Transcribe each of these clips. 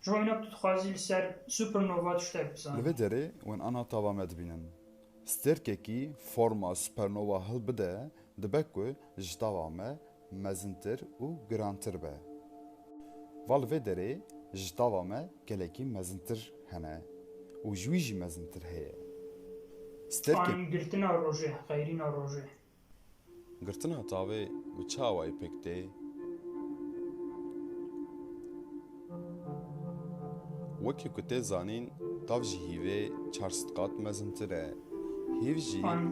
Ji bo înan tu dixwazî li ser supernova tiştek bizanî. Li vê derê wan ana tava me dibînin. Stêrkekî forma supernova hilbide dibe ku ji tava me mezintir û girantir be. Va li vê derê ji tava me gelekî mezintir hene û ji wî jî mezintir heye. Stêrkek. Anî girtina rojê, xeyrîna rojê. Girtina tavê bi çawayê pêk tê. Wekî ku tê zanîn tav ji hîvê çar sed qat mezintir e. Hîv jî. An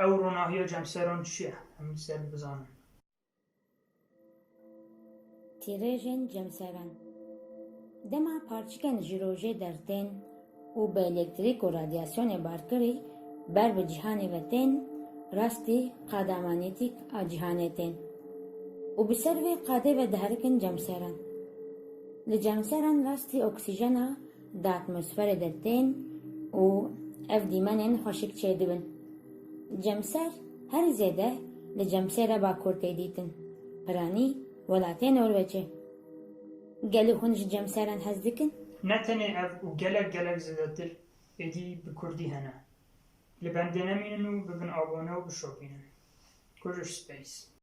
ew ronahiya cemseran çi ye? Em li ser bizanin. Tîrêjên cemseren, dema parçikên ji rojê dertên û bi elektrîk û radyasyonê barkirî ber bi cîhanê ve tên, rastî qada manetîk a cîhanê tên û bi ser vê qadê ve diherikin cemseren. Li cemseren rastî oksîjena, Di atmosferê de tên û ev dîmenên xweşik çêdibin. Cemser herî zêde li Cemsêra Bakur tê dîtin, piranî welatê Norwecê. Gelê hûn ji cemseran hez dikin? Ne tenê ev û gelek gelek zêdetir êdî bi kurdî hene. Li bendê nemînin û bibin abone û bişopînin. Kuj û space.